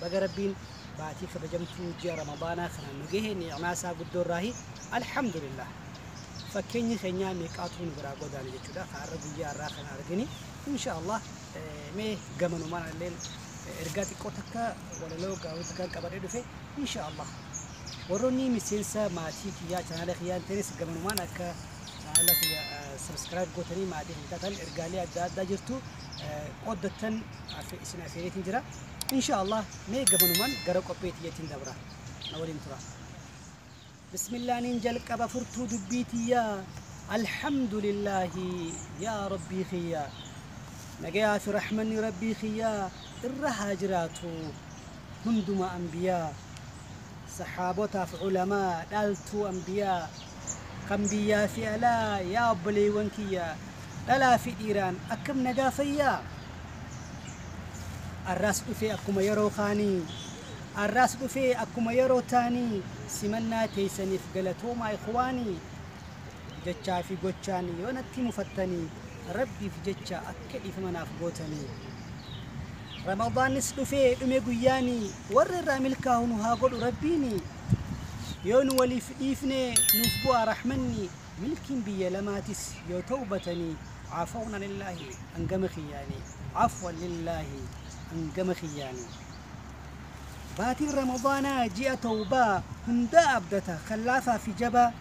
Baga Rabbiin baatii kabajamtuu ji'a Ramadaanaa kanaan nu gahe ni'maa isaa guddoo irraahi Alhamdulillah. Fakkeenyi keenyaa meeqaatu nu biraa godaane jechuudha. Ka har'a guyyaa har'aa kana argine insha Allah mee gamanumaan illeen ergaa xiqqoo takka walaloo gaawuu takkaan qabadhee dhufe insha Allah. Warroonni miseensa maatii kiyyaa chaanaala kiyyaa hin ta'ines gamanumaan akka chaanaala kiyya sabiskiraayib gootanii maatii kiyya taatan ergaalee adda addaa jirtu qooddattan isin afeereetiin jira. Insha Allah mee gabanuman gara qophee tiyyatiin dabra na waliin tura. Bismillaanin jalqaba furtuu dubbii tiyyaa Alhamdulillahi yaa Rabbii kiyyaa nagayaa fi rahmanni Rabbii kiyyaa irra haa jiraatu hunduma anbiyaa sahaabotaaf ulamaa dhaaltuu anbiyaa Kan biyyaa fi alaa yaa obboleewwan kiyya dhalaa fi dhiiraan akkam nagaa fayyaa? Arraas dhufee akkuma yeroo kaanii Arraas dhufee akkuma yeroo taanii simannaa teeysaniif galatoomaa ikhwaanii jechaa fi gochaan yoo natti mufattanii rabbiif jecha Akka dhiifama naaf gootanii. Ramadaannis dhufee dhume guyyaani warra irraa milkaahu nu haa godhu rabbiini. Yoo nu waliif dhiifne nuuf bu'aa rahmanni milkiin biyya lamaatis yoo tawbatanii caafawna lillaahi hangama kiyyaani caafwan lillaahi hangama kiyyaani. Baatiin Ramadaanaa ji'a tawbaa hundaa abdata kan laafaa fi jabaa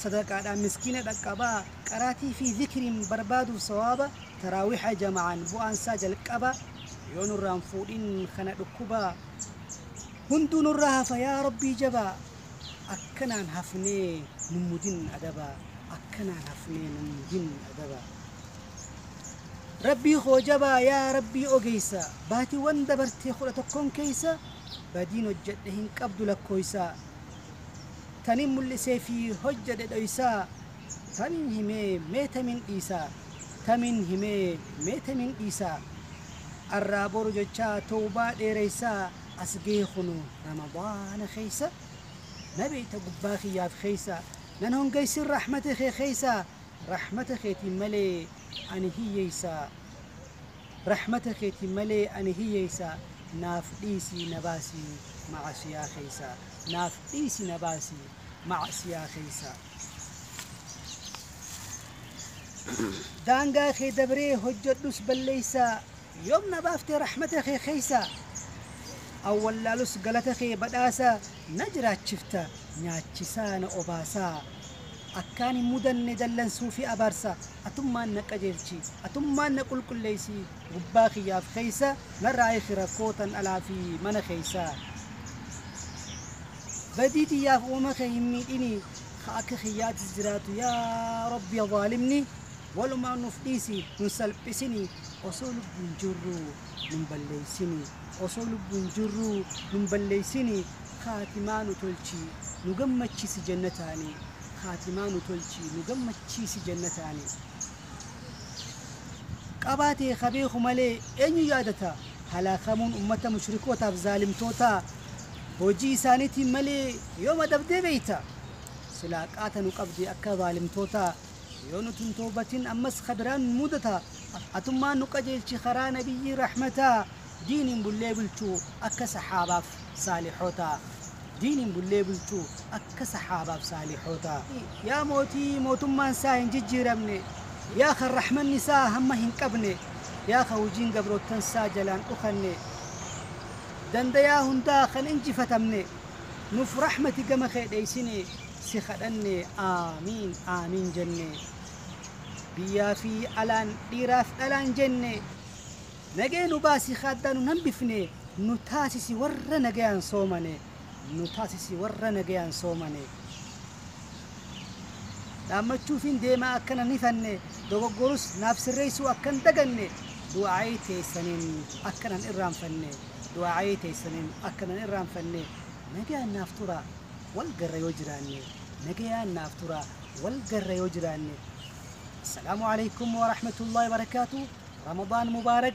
sadaqaadhaan miskiina dhaqqabaa qaraatii fi zikriin barbaaduuf sawaaba taraawiha jama'aan bu'aan isaa jalqaba yoo nurraan fuudhin kana dhukkubaa hunduu nurraa hafa yaa rabbii jabaa akkanaan hafnee nummudin adabaa akkanaan hafnee nummudin adabaa rabbii koo jabaa yaa rabbii ogeessa baatiiwwan dabartee kudha tokkoon keessa badiin hojjedhe hin qabdu lakkooysaa Tanin mul'isee fi hojjadhe dhoysaa Tamin himee mee tamin dhiisaa Tamin himee mee tamin dhiisaa Arraa boru jechaa towbaa dheereysaa As gahe kuno ramadaana keysa Na beyta gubbaa kiyyaaf keysa Nan hongeysin rahmata kee keysa Rahmata keetiin malee ani hiyyeysa. Rahmata keetiin malee ani hiyyeessa Naaf dhiisi na baasi ma'asiyaa keessa Naaf dhiisi na baasi ma'asiyaa keessa Daangaa kee dabree hojjedhus balleessa Yoom na baafte rahmata kee keessa An wallaalus galata kee badhaasa Na jiraachifta nyaachisaa na obaasa Akkaan hin mudanne dallansuu fi abaarsa Atummaan na qajeelchi, atummaan na qulqulleessi, gubbaa kiyyaaf keessa narraa hiiki rakkoo tan alaa fi mana keessa. Badii tiyyaaf uumama kee hin miidhini, ka akka kiyyaatis jiraatu yaa Rabbi zaalimni walumaan nuuf dhiisi, nun salphisini, osoo lubbuun jirruu nun balleessini, osoo lubbuun jirruu nun balleessini, kaatimaa nu tolchi, nu gammachisi jannataani, Kaatimaa nu tolchii nu gammachiisi jannataani Qabaa tee ka beeku malee eenyu yaadata Halaakamuun ummata mushrikootaaf zaalimtootaa Hojii isaaniitiin malee yoom adabdee beeyta Silaa qaata nu qabdee akka zaalimtootaa Yoo nuti hin tawbatin ammas ka biraan nu mudata Atummaan nu qajeelchi karaa nabiyyii rahmataa Diiniin bullee bulchuu akka sahaabaaf saalihootaa Diiniin bullee bulchuu akka sahaabaaf saalihootaa. Yaa mootii mootummaan saa hin jijjiiramne Yaa kan rahmanni saa hamma hin qabne Yaa kan hujiin gabroottan saa jalaan dhokanne Dandayaa hundaa kan injifatamne Nuuf rahmati gama kee dheeysine si kadhanne Aamiin Aamiin jenne Biyyaa fi alaan dhiiraaf dhalaan jenne Nagaya nu baasi ka addaa nun hambifne nu taasisi warra nagayaan soomane nu taasisi warra nagayaan soomane dhaammachuufiin deema akka nan hifanne dogoggorus naaf sirreessuu akkan daganne du'aa'ii teessaniin akka nan irraanfanne du'aa'ii teessaniin akka nan irraanfanne nagayaan naaf tura wal garra yoo jiraanne nagayaan naaf tura wal garra yoo jiraanne Assalaamu alaikum wa rahmatullahi wa barakaatuh Ramadan Mubarak.